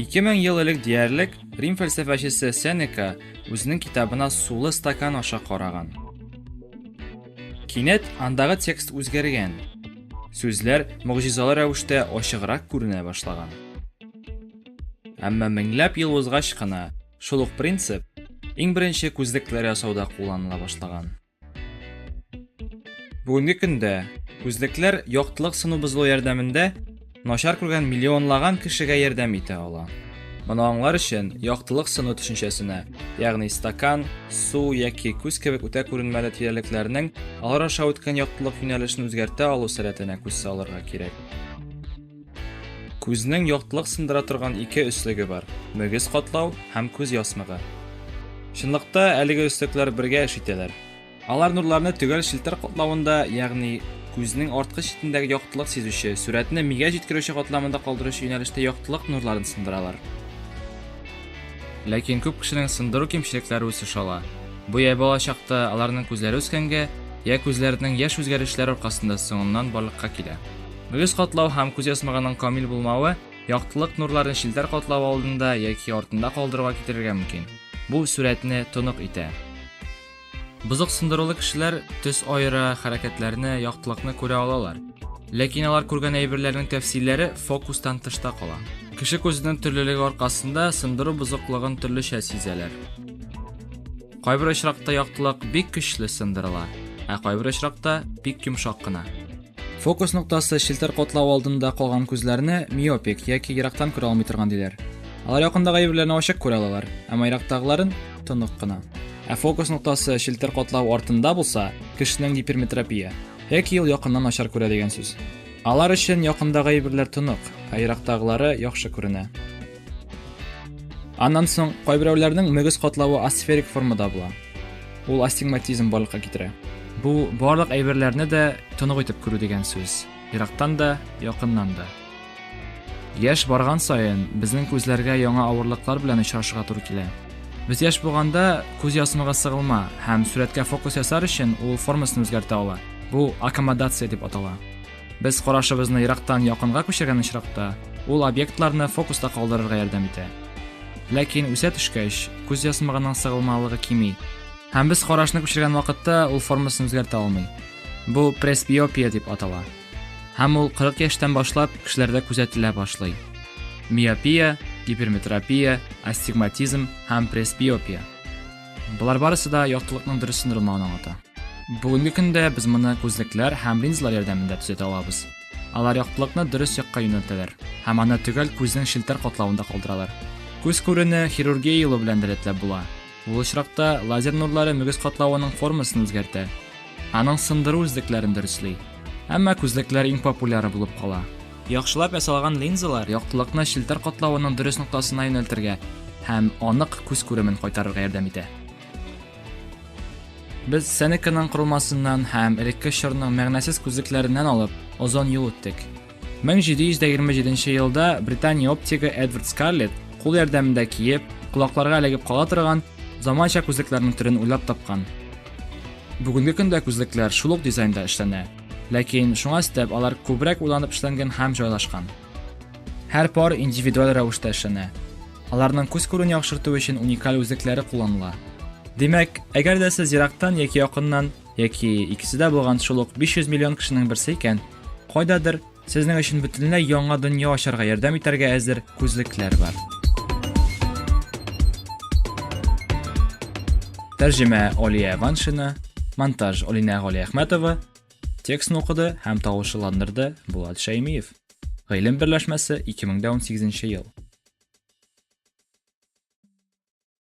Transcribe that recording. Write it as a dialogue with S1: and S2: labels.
S1: Ике мең ел элек диярлек Рим фәлсәфәчесе Сенека үзенең китабына сулы стакан аша караган. Кинәт андагы текст үзгәргән. Сүзләр могҗизалы рәвештә ачыграк күренә башлаган. Әмма меңләп ел узгач кына шул ук принцип иң беренче күзлекләр ясауда кулланыла башлаган. Бүгенге көндә күзлекләр яктылык сыну бозылу ярдәмендә начар күргән миллионлаган кешегә ярдәм итә ала. Моны аңлар өчен яктылык сыну төшенчәсенә, ягъни стакан, су яки күз кебек үтә күренмәле тирәлекләрнең алар аша үткән яктылык юнәлешен үзгәртә алу сәләтенә күз салырга кирәк. Күзнең яктылык сындыра торган ике өслеге бар, мөгез катлау һәм күз ясмыгы. Чынлыкта әлеге өслекләр бергә эш итәләр. Алар нурларны төгәл челтәр катлавында, ягъни күзнең арткы читендәге яктылык сизүче, сурәтне мигә җиткерүче катламында калдыручы юнәлештә яктылык нурларын сындыралар. Ләкин күп кешенең сындыру кимчелекләре үсеш ала. Бу я бала чакта аларның күзләре үскәнгә, я күзләренең яшь үзгәрешләр аркасында соңыннан барлыкка килә. Мөгез катлау һәм күз ясмыгының камил булмавы яктылык нурларын челтәр катлау алдында яки артында калдыруга китерергә мөмкин. Бу сурәтне тонык итә. Бозык сындырулы кешеләр төс аера, хәрәкәтләрне, яктылыкны күрә алалар. Ләкин алар күргән әйберләрнең тәфсилләре фокустан тышта кала. Кеше күзенең төрлелеге аркасында сындыру бозыклыгын төрлечә сизәләр. Кайбер очракта яктылык бик көчле сындырыла, ә кайбер очракта бик йомшак кына. Фокус ноктасы челтәр котлау алдында калган күзләрне миопик яки ерактан күрә алмый торган диләр. Алар якындагы әйберләрне ачык күрә алалар, әмма ерактагыларын тонык кына. Ә фокус ноктасы челтәр котлау артында булса, кешенең гиперметропия, яки ел якыннан начар күрә дигән сүз. Алар өчен якындагы әйберләр тонык, ә ерактагылары яхшы күренә. Аннан соң кайберәүләрнең мөгез катлавы асферик формада була. Ул астигматизм барлыкка китерә. Бу барлык әйберләрне дә тонык итеп күрү дигән сүз. Ерактан да, якыннан да. Яш барган саен безнең күзләргә яңа авырлыклар белән очрашырга туры килә. Без яш булганда күз ясмыгы сыгылма һәм сурәткә фокус ясар өчен ул формасын үзгәртә ала. Бу аккомодация дип атала. Без карашыбызны ерактан якынга күчергән очракта, ул объектларны фокуста калдырырга ярдәм итә. Ләкин үсә төшкәч, күз ясмыгының сыгылмалыгы кими. Һәм без карашны күчергән вакытта ул формасын үзгәртә алмый. Бу пресбиопия дип атала. Һәм ул 40 яшьтән башлап кешеләрдә күзәтелә башлый. Миопия, гиперметропия, астигматизм һәм пресбиопия. Болар барысы да яктылыкның дөрес сындырылмавын аңлата. Бүгенге көндә без моны күзлекләр һәм линзалар ярдәмендә төзәтә алабыз. Алар яктылыкны дөрес якка юнәлтәләр һәм аны төгәл күзнең челтәр катлавында калдыралар. Күз күрене хирургия юлы белән дә рәтләп була. Ул очракта лазер нурлары мөгез катлавының формасын үзгәртә. Аның сындыру үзлекләрен дөресли. Әмма күзлекләр иң популяры булып кала. Яхшылап ясалган линзалар яктылыкны челтәр катлавының дөрес ноктасына юнәлтергә һәм анык күз күремен кайтарырга ярдәм итә. Без Сенеканың корылмасыннан һәм элекке чорның мәгънәсез күзлекләреннән алып, озон юл үттек. 1727 елда Британия оптигы Эдвард Скарлетт кул ярдәмендә киеп, колакларга эләгеп кала торган заманча күзлекләрнең төрен уйлап тапкан. Бүгенге көндә күзлекләр шул ук дизайнда эшләнә, ләкин шуңа өстәп алар күбрәк уйланып эшләнгән һәм җайлашкан. Һәр пар индивидуаль рәвештә эшләнә. Аларның күз күрүен яхшырту өчен уникаль үзлекләре кулланыла. Димәк, әгәр дә сез ерактан яки якыннан Яки икесе дә булган шул ук 500 миллион кешенең берсе икән. Кайдадыр сезнең өчен бөтенләй яңа дөнья ачарга ярдәм итәргә әзер күзлекләр бар. Тәрҗемә Алия Ваншина, монтаж Алинә Галиәхмәтова, текстны укыды һәм тавышландырды Булат Шәймиев. Гыйлем берләшмәсе 2018 ел.